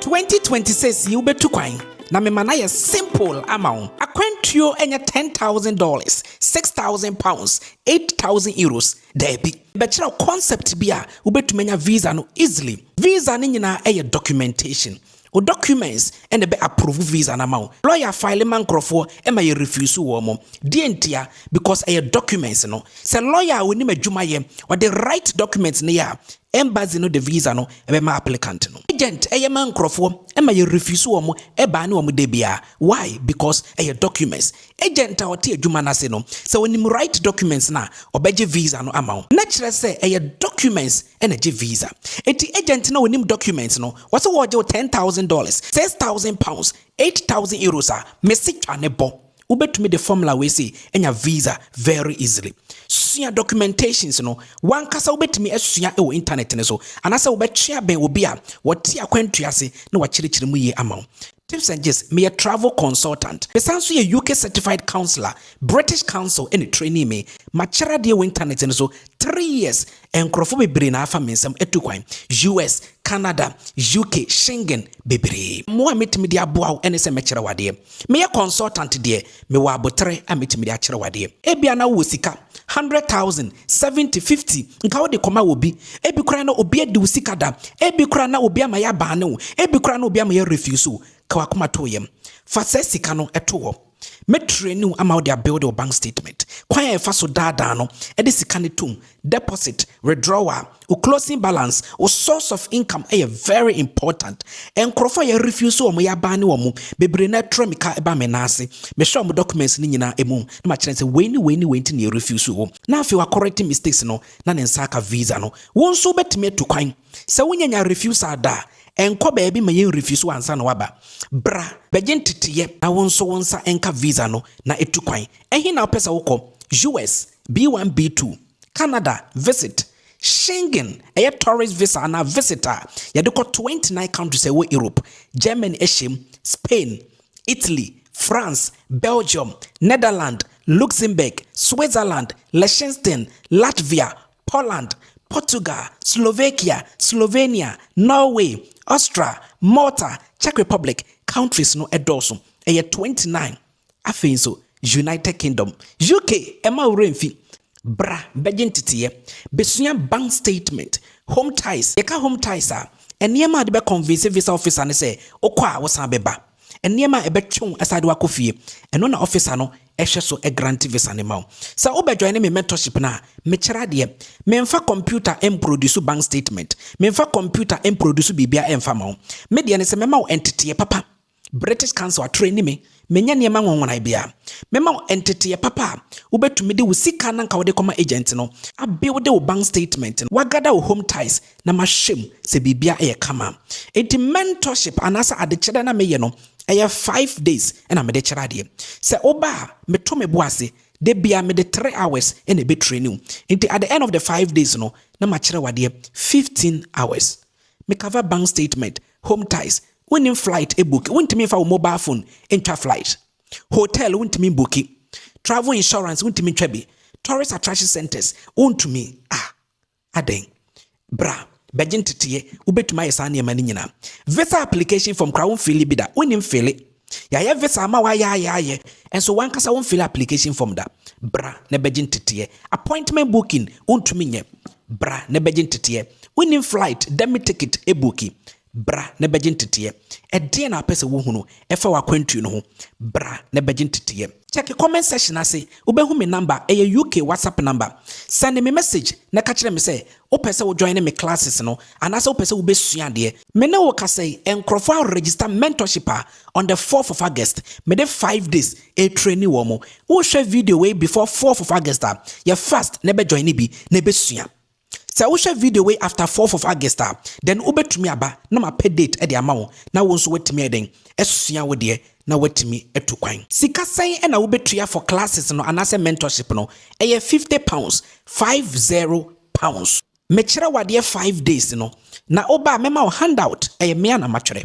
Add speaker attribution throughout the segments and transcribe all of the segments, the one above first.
Speaker 1: Twenty twenty six yi wobɛtu kwan na mema no ayɛ simple ama wo. Akwantuo nyɛ ten thousand dollars, six thousand pounds, eight thousand euros, daabi. Bɛkyerɛ wo concept bi a wobɛtumi anya visa no easily. Visa no nyinaa yɛ documentation. Wo documents na ɛbɛ approve visa no ama wo. Lawyer file ma nkorɔfoɔ ma yɛ refuse wɔn. Deɛ ntia? Because ɛyɛ documents no. Sɛ lawyer a ɔnim adwuma yɛ, ɔde right documents no yɛ a, Embassy no de visa no bɛma applicant no. Agent yɛ ma nkorɔfoɔ ma yɛ refuse wɔn baa ne wɔn da biara why because ɛyɛ documents agent a ɔte adwuma no ase no sɛ ɔnim right documents no a ɔbɛgye visa no ama wo na kyerɛ sɛ ɛyɛ documents na gye visa nti agent no a ɔnim documents no ɔse wɔgye wo ten thousand dollars six thousand pounds eight thousand euros a mese twa ne bɔ Wobɛtumi de formula wei sei anya visa very easily. Sua documentations no, w'ankasa wobɛtumi asua wɔ internet no so anaasɛ wobɛtwe abɛn obi a ɔte akwantuo ase na wakyerɛkyerɛ mu yie ama wo. Tips and Gist, Meyɛ travel consultant. Mesan nso yɛ UK certified counsellor, British Council na ɛtrainii me. Makyɛre adeɛ wɔ internet no so three years Nkurɔfo bebree na afa me nsam atu kwan, US, Canada, UK, Schengen, bebree. Mmoa a metumi de aboa wo ne sɛ mɛkyerɛ wo adeɛ. Meyɛ consultant deɛ, mewɔ aboterɛ a metumi de akyerɛ wo adeɛ. Ebia na wowɔ sika, hundred thousand, seventy, fifty, nka wode kɔma obi. Ebi koraa na obi adi wo sika da. Ebi koraa na obi ama yɛabaane wo. Ebi koraa na obi ama yɛarefuse wo. Ka w'akoma to wo yam. Fa saa sika no to hɔ. Me traini wo ama wo de abuilde wo bank statement, kwan a yɛfa so daadaa no de sika no tom, deposit, withdrawal, wo closing balance, wo source of income yɛ very important. Nkurɔfoɔ a yɛ refuse wɔn yɛ abaa ne wɔn mu bebree na ɛtrɛ me ka ba me nan ase. Mehwɛ wɔn documents no nyinaa emu na makyerɛ no sɛ wei ne wei ne wei nti na yɛ refuse wo. Na afei wa correct mistakes no na ne nsa aka visa no. Wo nso wobɛtumi atu kwan. Sɛ wo nyanya refusal da a, nkɔ baabi ma yɛn refuse wo ansa na woaba. Bra bɛgye nteteeɛ na wo nso wo nsa nka visa no na ɛtu kwan. Ɛhe na wopɛ sɛ wokɔ? US, B1, B2, Canada, visit, Schengen, ɛyɛ tourist visa anaa visit a yɛde kɔ 29 countries a ɛwɔ Europe, Germany hyɛ mu, Spain, Italy, France, Belgium, Netherlands, Luxembourg, Switzerland, Liechtenstein, Latvia, Poland, Portugal, Slovakia, Slovenia, Norway, Austria, Malta, Czech Republic, countries no dɔɔso, ɛyɛ 29, afei nso United Kingdom, UK, mma wo werɛ mfi, bra bɛgye nteteeɛ, bɛsua bank statement, home ties, yɛka home ties a, nneɛma a wode bɛ convince visa officer no sɛ wokɔ a wosan bɛba. nneɛma a ɛbɛtwe wo asade wakɔ fie. Ɛno na ɔfisa no hwɛ so grante visa no ma wo. Sɛ wo bɛ joine me mentorship no a, me kyerɛ adeɛ. Me nfa computer mproduce bank statement, me nfa computer mproduce biribiara nfa ma wo. Me deɛ ne sɛ mɛma wo nteteɛ papa, British council atraini me, me nyɛ nneɛma nwonwonae biara. Mɛma wo nteteɛ papa a wo bɛ tumi de wo sika na nka wo de kɔma agent no, a builde wo bank statement no, wa gather wo home ties na mahyɛ mu sɛ biribiara yɛ kama. Enti mentorship anaasɛ adekyerɛ na meyɛ no, ɛyɛ five days na mede kyerɛ adeɛ. Sɛ woba a, meto me bo ase, da biara mede three hours na ɛbɛtraini wo. Enti at the end of the five days no, na makyerɛ wo adeɛ fifteen hours. Me cover bank statement, home ties, wonnim flight book, wontumi mfa wo mobile phone ntwa flight. Hotel wontumi mbuki, travel insurance wontumi ntwa bi, tourist attraction centres wontumi, ah, Adɛn? Bra, bɛgye nteteɛ. Wobɛtumi ayɛ saa nneɛma no nyinaa. Visa application form koraa womfili bi da. Wonnim fili. Yɛayɛ visa ama wo ayɛ ayɛ ayɛ, nso w'ankasa womfili application form da. Bra na bɛgye nteteɛ. Appointment booking wontumi nyɛ. Bra na bɛgye nteteɛ. Wonnim flight, dɛm ticket, ebuuki. Bra na bɛgye nteteɛ. Ɛdeɛn na wopɛ sɛ wohunu ɛfa w'akwantuo no ho? Bra na bɛgye nteteɛ. Kyɛke comment section ase, wobɛhu me number, ɛyɛ UK WhatsApp number. Sɛnde me message na ka kyerɛ me sɛ wopɛ sɛ wo joine me classes no anaasɛ wopɛ sɛ wobɛsua adeɛ. Me ne wo kasa yi, nkorɔfoɔ a register mentorship a, on the fourth of August, mede five days retraini wɔn. Wohwɛ video wei before fourth of August a, yɛ fast na bɛ joine bi na bɛsua. Sɛ wohwɛ video wei after fourth of August a, then wobɛtumi aba na mapɛ date de ama wo na wo nso woatumi ayɛ dɛn asua wo deɛ na woatumi atu kwan. Sika sɛn na wobɛtua for classes no anaasɛ mentorship no? Ɛyɛ fifty pounds, five zero pounds. Mekyerɛ wo adeɛ five days no, na woba a mɛma wo handout, ɛyɛ me a na matwerɛ.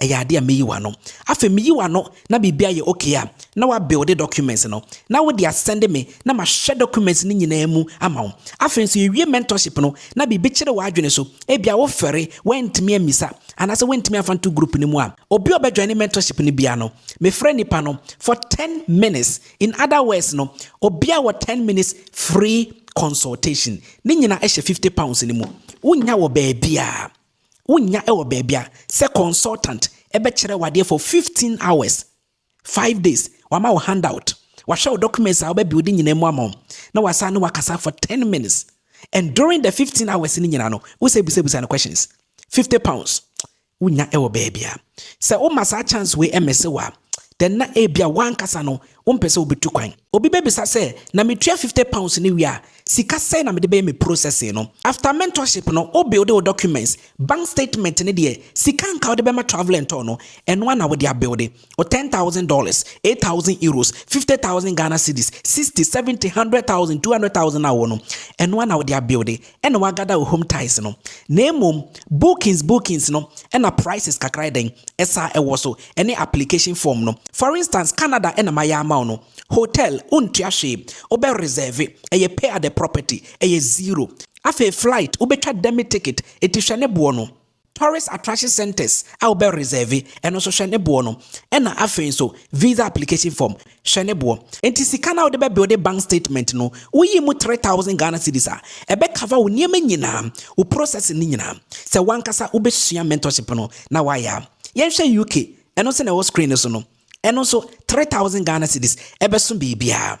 Speaker 1: ɛyɛ adeɛ a meyi w'ano afei meyi w'ano na biribi ayɛ okay a na wabuilde documents no na wode asɛnde me na mahwɛ documents no nyinaa mu ama wo afei nso yɛwie mentorship no na biribi kyere w'adwene so ebia wofɛre woantumi ammisa anaasɛ woantumi amfa nto group no mu a obi a ɔbɛjoine mentorship no biara no mefrɛ nipa no for 10 minutes in other words no obi a wɔ 10 minutes free consultation ne nyina ɛhyɛ 50 pounds no mu wonya wɔ baabiara Wonnya wɔ baabi a sɛ consultant bɛkyerɛ wo adeɛ for 15 hours, 5 days, wama wo handout, wahwɛ wo documents a wobɛ build nyinaa mu ama wo, na wasan ne wakasa for 10 minutes and during the 15 hours no nyinaa no, wo sɛ busabusa no questions. 50 pounds. Wonnya wɔ baabi a. Sɛ woma saa chance wei ɛmese wo a, then na ebia wankasa no Wompɛ sɛ wubetu kwan. Obi bebisa sɛ, Na mitua fifty pounds no wie a, sika sɛn na mede bɛyɛ me processing no? After mentorship no, wo builde wo documents, bank statement ne deɛ sika a anka wode bɛma travel and tour no, ɛno ara na wode abuilde. Wo ten thousand dollars, eight thousand euros, fifty thousand Ghana cedis, sixty, seventy, hundred thousand, two hundred thousand a wowɔ no, ɛno ara na wode abuilde. na wagada wo home ties no na mmom bookings bookings no na prices kakra yɛ dɛn ɛsaa ɛwɔ so ɛne application form no for instance Canada na mayɛ ama wo no hotel wontua hwee wobɛ reserve ɛyɛ pay at the property ɛyɛ zero afei flight wobɛtwa demi ticket enti hwɛ ne boɔ no. Tourist attraction centres a wobɛ reserve ɛno nso hwɛ ne boɔ no ɛna afei nso visa application form hwɛ ne boɔ nti sika no a wode bɛ builde bank statement no woyi mu three thousand Ghana cedis a ɛbɛ cover wo nneɛma nyinaa wo processing no nyinaa sɛ wankasa wobɛsua mentorship no na wayɛ a yɛnhwɛ UK ɛno nso na ɛwɔ screen no so no ɛno nso three thousand Ghana cedis ɛbɛso biribiara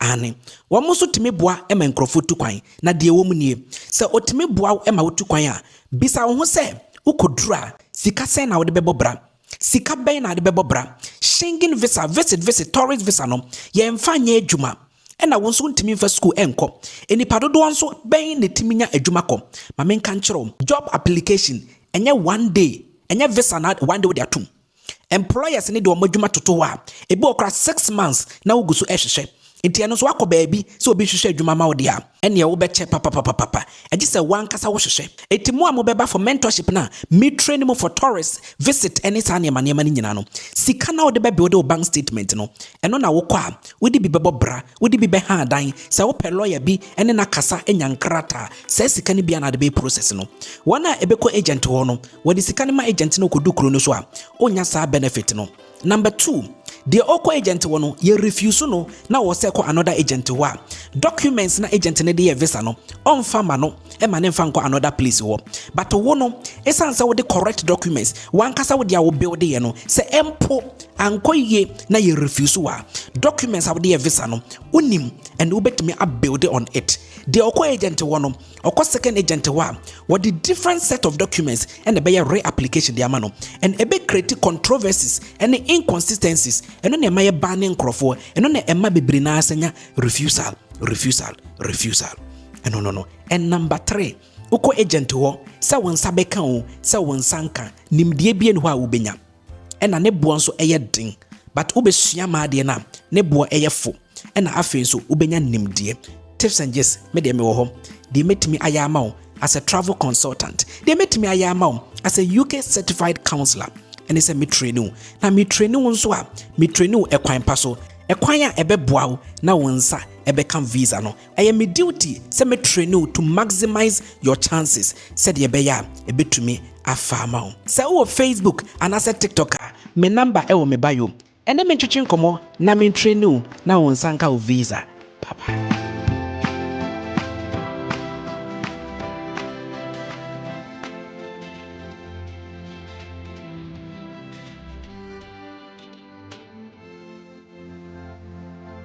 Speaker 1: Aane, wɔn nso tumi boa ma nkurɔfoɔ tu kwan. Na deɛ ɛwɔ mu nie, sɛ ɔtumi boa wo ma wotu kwan a, bisa wo ho sɛ, Wokɔduru a, sika sɛn na wode bɛbɔ bra? Sika bɛn na wode bɛbɔ bra? Schengen visa, visit visit, tourist visa no, yɛmfa nyɛ adwuma. Ɛna wo nso wontumi mfa sukuu nkɔ. Nnipa dodoɔ nso bɛn na ɛtumi nya adwuma kɔ? Ma menka nkyerɛ wo, job application, ɛnyɛ one day, ɛnyɛ visa na one day wode atom. Employers no de wɔn adwuma toto hɔ a, ebi wɔ hɔ koraa six months na wogu so rehwehwɛ. Nti ɛno nso woakɔ baabi sɛ obi rehwehwɛ adwuma ama wo deɛ a, ɛnneɛ wobɛkyɛ papapapapa. Egye sɛ w'ankasa wohwehwɛ. Enti mo a mobɛba for mentorship no a, me train mo for tourist visit ne saa nneɛma nneɛma no nyinaa no, sika no a wode bɛbeode wo bank statement no, ɛno na wokɔ a, wode bi bɛbɔ bra. Wode bi bɛha adan, sɛ wopɛ lɔya bi ne no akasa anya nkrataa, saa sika no bi a na ade bɛyɛ process no. Wɔn a ɛbɛkɔ agent hɔ no, wɔde sika no ma agent na ɔkɔdu kuro no so a, ɔnnya saa benefit no. Number two, deɛ ɔkɔ agent hɔ no, yɛ refuse no na ɔsɛ kɔ another agent hɔ a, documents na agent no de yɛ visa no, ɔmfa ma no. ɛma ne nfa nkɔ another place wɔ but wo no esan sɛ wode correct documents wankasa wode a wo build yɛ no sɛ ɛmpo ankɔ yie na yɛ refuse wa documents a wode yɛ visa no wonim ɛna wobɛtumi a build on it deɛ ɔkɔ agent wɔ no ɔkɔ second agent wɔ a wɔde different set of documents ɛna ɛbɛyɛ reapplication de ama no and ɛbɛ create controversies ɛne inconsistencies ɛno na ɛma yɛ ban ne nkorɔfoɔ ɛno na ɛma bebree naa sɛ nya refusal refusal refusal Ɛno no no. And number three, wokɔ agent hɔ sɛ wo nsa bɛka o, sɛ wo nsa nka, nimdeɛ bi ɛni hɔ a wobɛnya. Ɛna ne boɔ nso ɛyɛ den, but wobɛsua ma adeɛ no a, ne boɔ ɛyɛ fo. Ɛna afei nso wobɛnya nimdeɛ. Tips and gist, me deɛ mewɔ hɔ. Deɛ mɛtumi ayɛ ama wo as a travel consultant, deɛ mɛtumi ayɛ ama wo as a UK certified counselor, ɛne sɛ me train wo. Na me train wo nso a, me train wo ɛkwan pa so, ɛkwan a ɛbɛboa wo na wo nsa ɛbɛka visa no. Ɛyɛ me duty sɛ me train wo to maximize your chances sɛdeɛ ɛbɛyɛ a ɛbɛtumi afa ama wo. Sɛ wowɔ Facebook anaasɛ TikTok a, me number wɔ me bio. Ɛne me ntwetwe nkɔmmɔ na me train wo na wo nsa nka wo visa papa.